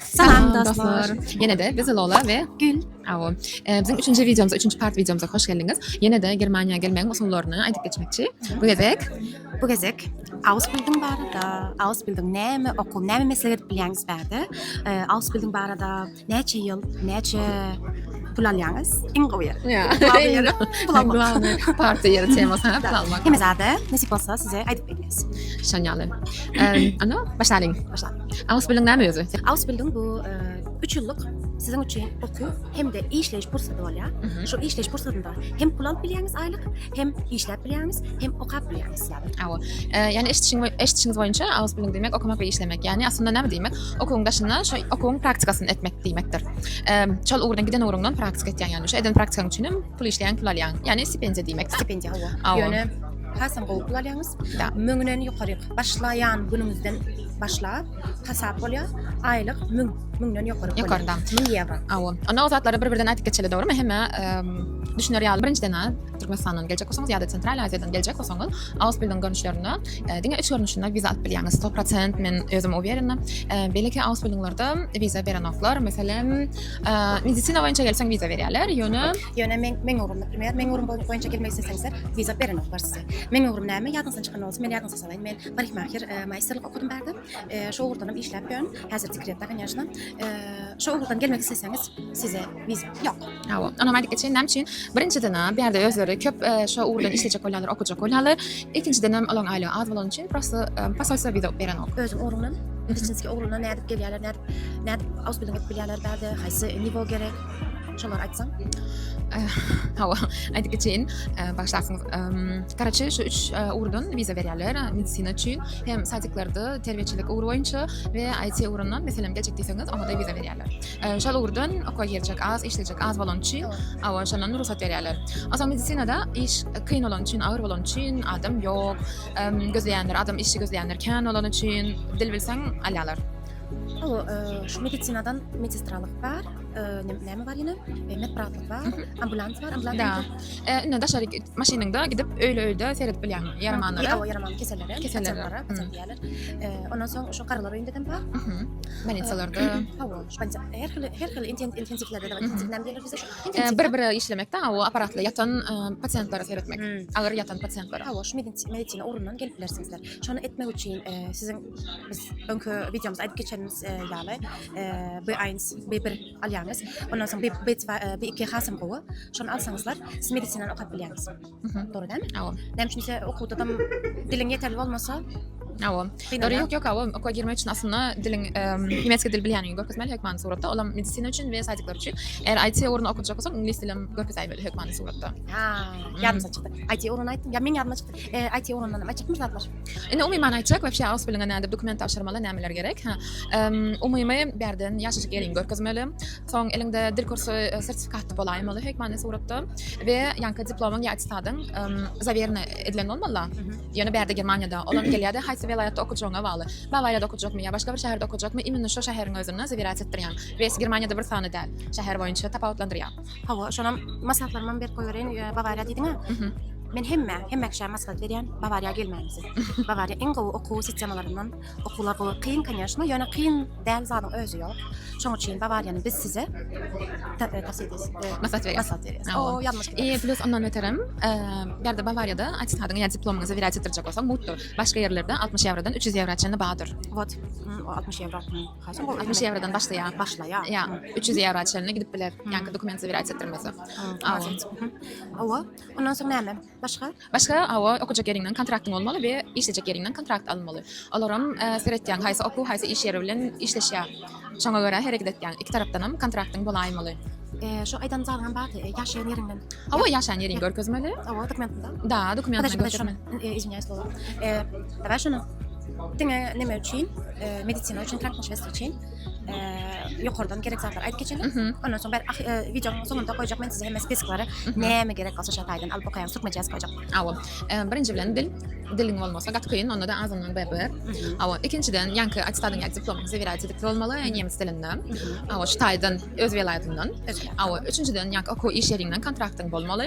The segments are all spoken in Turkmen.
Salam dostlar. Yine de biz Lola ve Gül. Awo. Ee, bizim üçünji videomuza, üçünji part videomuza hoş geldiniz. Yine de Germaniýa gelmegiň usullaryny aýdyp geçmekçi. Bu gezek Bu gezek Ausbildung barada, Ausbildung näme okuw, näme meslek edip bilýäňiz bärde. Ee, Ausbildung barada näçe ýyl, näçe pul alýaňyz? Iň gowy ýer. Ya. Gowy ýer. Pul almak. Glawny parti ýeri temasy ha, pul almak. Hemme zada nesip bolsa size aýdyp bilýäs. Şanýaly. Ee, Ana, başlalyň. Başla. Ausbildung näme özi? Ausbildung bu üç ýyllyk siziň üçin okuw hem-de işleýiş pursady bolýar. Şu işleýiş pursatynda hem pul alyp bilýäňiz aýlyk, hem işläp bilýäňiz, hem okap bilýäňiz. Awa. Ýani eşitişiň eşitişiňiz boýunça ausbildung diýmek okamak we işlemek. Ýani aslynda näme diýmek? Okuwyň daşynda şu okuwyň praktikasyny etmek diýmekdir. Şol ugurdan giden ugruňdan praktika etýäň ýani. Şu eden praktikaň üçin hem pul işleýäň, pul alýaň. Ýani stipendiýa diýmek. Stipendiýa hawa. Ýöne hasam gowy pul alýaňyz. Müňden ýokaryk başlaýan günüňizden başlap hasap bolýar. Aýlyk 1000, 1000-den ýokary. Ýokary da. 1000 ýewro. Awa. Onda o zatlary bir-birden aýdyp geçeli, dogrymy? Hemme düşüner ýaly. Birinjiden, Türkmenistandan geljek bolsaňyz ýa-da Sentral Aziýadan geljek bolsaňyz, Ausbildiň görnüşlerinde diňe üç görnüşinde wiza alyp bilýäňiz. 100% men özüm uwerena. Beýleki Ausbildinglerde wiza berenoklar. Meselem, medisina boýunça gelseň wiza berýärler, ýöne ýöne men meň ugrumda, meň ugrumda boýunça gelmek isleseňizler, wiza berenoklar size. Meň ugrum näme? Ýadyňyzdan çykan bolsa, men ýadyňyzdan Salam, men parikmaher maýsterlik okadym bärde. Şu ugurdanam işläp ýörün. Häzir dekretde, kanyýaşna. Şu ugurdan gelmek isleseňiz, size wiza ýok. Hawa, onam aýdyp geçeýin, näme üçin? Birinjiden, bärde özleri köp şu ugurdan işlejek bolýarlar, okajak bolýarlar. Ikinjiden hem olaryň aýlygy az bolany üçin prosta posolstwo wiza berenok. Özüň ugrundan, meditsinskiý ugrundan nädip gelýärler, nädip, nädip ausbilding edip bilýärler bärde, haýsy nivo gerek? Şolar aýtsaň. Eh, hawa, aýdyp geçeýin. Eh, Başlasyňyz. Garaçy şu üç eh, ugurdan wiza berýärler. Medisina üçin hem sadiklarda terbiýeçilik ugry boýunça we IT ugrundan meselem geljek diýseňiz, oňa da wiza berýärler. Şol ugurdan okuwa girjek az, işlejek az bolan üçin, hawa, şondan rugsat berýärler. Asa medisinada iş kyn bolan üçin, agyr bolan üçin adam ýok. Gözleýänler, adam işi gözleýänler kän bolan üçin dil bilseň alýarlar. Şu medisinadan medistralyk bar. näme bar ýene? Medprawluk bar, ambulans bar, ambulans. Da. Indi daşary maşynyňda gidip öýle-öýle seredip bilýäň ýaramanlara. Ýa ýaraman kesellere, kesellere, kesellere. Ondan soň şu garalar öýünde hem bar. Bolnisalarda. Hawa, şonda her hili her hili intensivlerde bar. Intensivden gelir bize şu. Bir-bire işlemekde o apparatla ýatan pasiýentlere seretmek. Agyr ýatan pasiýentlere. Hawa, şu medisina orundan gelip bilersiňizler. Şonu etmek üçin siziň Biz öňki videomyzda aýdyp geçenimiz e, ýaly e, B1, B1 alýaňyz. Ondan soň B- B2, e, B2 hasam gowy. Şony alsaňyzlar, siz medisinany okap bilýäňiz. Dogry dälmi? Awa. Näme üçin ise okuwda da diliň ýeterli bolmasa, Awa. Kynalýar. Dogry ýok ýok awa. Okuwa girmek üçin aslynda diliň em, niemiec dil bilýänini görkezmeli hökmany suratda. Olam medisina üçin we saýtyklar üçin. Eger IT ugruna okajak bolsaň, iňlis dilim görkezäýmeli hökmany suratda. ha, ýadymdan çykdy. IT ugruna aýtdym. Ýa meň ýadymdan çykdy. E, IT ugrundan näme çykmyş zatlar? Indi umuman aýtjak, webşe aus bilingen nädip dokument tabşyrmaly, nämeler gerek? Ha. Umumy bärden ýaşaşyk ýeriňi görkezmeli. Soň elinde dil kursy e, sertifikatly bolaýma maly hek many suratda we ýanka diplomyň ýa attestatyň zawerne edilen bolmaly. Ýöne bärde Germaniýada olam gelýärdi, haýsy welaýatda okujagyňa bagly. Bawariýada okujakmy ýa başga bir şäherde okujakmy, imенно şu şäheriň özünde zawirat etdirýän. Wes Germaniýada bir sany däl, şäher boýunça tapawutlandyrýar. Hawa, şonam maslahatlarymam berip goýbereýin. Bawariýa diýdiňä. Mhm. Men hemme, hemme kişä maslahat berýän, Bawariýa gelmänizi. Bawariýa iň gowy okuw sistemalaryndan. Okuwlar gowy, kyn, конечно, ýöne kyn däl zadyň özi ýok. Şoň üçin Bawariýany biz size ta- e, tavsiýe edýäs. E, Maslahat berýär. Maslahat berýäs. Hawa. O ýalňyş gidýär. E, plus ondan beterem, e, bärde Bawariýada attestadyňy ýa diplomyňyzy wyrýat etdirjek bolsaň, mutdur. Başga ýerlerde 60 ýewrodan 300 ýewra çenli bardyr. Wot, mm, o 60 ýewro. Kaçak ol 60 ýewrodan başlaýar. Başlaýar. Ýa, 300 ýewro çenli gidip biler. Ýa-da dokument zabirýat etdirmese. Awa. Awa. Ondan soň näme? Başga? Başga awa okujak ýeriňden kontraktyň bolmaly we işlejek ýeriňden kontrakt alynmaly. Olar hem seretýän haýsy okuw, haýsy iş ýeri bilen işleşýär. Şoňa görä hereket etýän. Iki tarapdan hem kontraktyň bolaýmaly. Eee, şu aýdan zadyňam bardy, ýaşaýan ýeriňden. Awa, ýaşaýan ýeriňi görkezmeli. Awa, dokumentinde. Da, dokumentinde görkezmeli. Eee, izwinýaýs, dolar. Eee, daway şuny. Diňe neme üçin? Ee, medisina üçin, tank meselesi üçin. Ee, yukarıdan gerek zatlar ayıp geçelim. Mhm. Ondan sonra ben ah, e, videonun sonunda koyacak ben size hemen spesklere Mhm. neme gerek olsa şat aydan alıp bakayan Türkmen cihaz koyacak. Awa. Ee, birinji bilen dil. Diliň bolmasa gat kyn, onda da azyndan bir bir. Mhm. Awa. Ikinjiden ýanky attestadyň ýa diplomuň zewirat edip bolmaly, nemes dilinde. Mhm. Awa, şu taýdan öz welaýatyndan. Öz welaýatyndan. Awa, üçünjiden ýanky okuw iş ýeriňden kontraktyň bolmaly.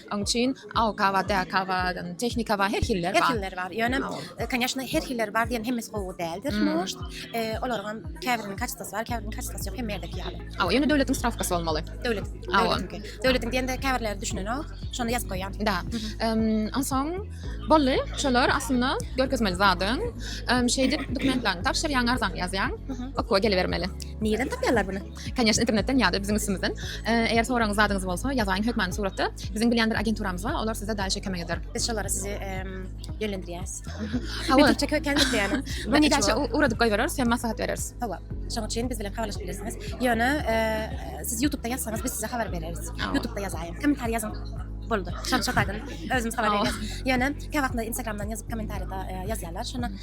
Oň üçin awka bar, däka bar, tehnika bar, her hilleri bar. Her hilleri bar. Ýöne, konýaşna, her hilleri bar diýen hemmesi gowy däldir. Может, olaryňam käbiriniň kaçtosy bar, käbiriniň kaçtosy ýok, hemme ýerdeki ýaly. Hawa, ýöne döwletiň strawkasy bolmaly. Döwletiň, döwletiňki. Döwletiň diýende käbirleri düşünenok, şony ýazyp goýýan. Da. Onsoň boldy. Şolar aslynda görkezmeli zadyň. Şeýdip dokumentlerini tabşyrýaň, arzany ýazýaň, okuwa gelibermeli. Nireden tapýarlar muny? Конечно, internetden ýa-da biziň üstümizden. Eger soragyňyz zadyňyz bolsa, ýazaýyň hökmany suratda. Biziň bilýän bir agenturamyz bar, olar size daýyşa kömek eder. Biz şolara sizi ýönlendirýäris. Hawa, Türkçe köken diýýäni. Bu näçe uradyp goýbereris, hem maslahat bereris. Hawa. Şonuň üçin biz bilen habarlaşyp bilersiňiz. Ýöne siz YouTube-da ýazsaňyz, biz size habar bereris. YouTube-da ýazaýyň. Kommentariýa ýazyň. Boldy. Şonuň şo taýdan özümiz habar berýäris. Ýöne käwagtlar Instagram-dan ýazyp kommentariýada ýazýarlar. Şonda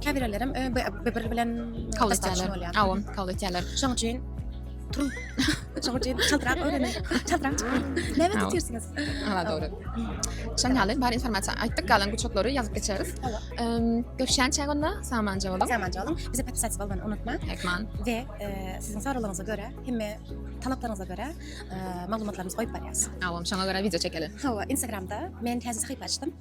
Käbirlerem bir-biri bilen kabul etýärler. Awa, kabul etýärler. Şonuň üçin turun. Şonuň üçin çaltrak öwreniň. Çaltrak çykyň. Näme tutýarsyňyz? Ha, dogry. Şonuň ýaly bar informasiýa aýtdyk, galan guçaklary ýazyp geçeris. Görüşýänçä onda samanja boluň. Samanja boluň. Bize podpisat bolmagyny unutmaň. Ekman. We e, siziň soraglaryňyza görä, hemme talaplaryňyza görä e, maglumatlarymyzy goýup barýarys. Awa, şoňa görä wideo çekeli. Hawa, Instagramda men täze sahypa açdym.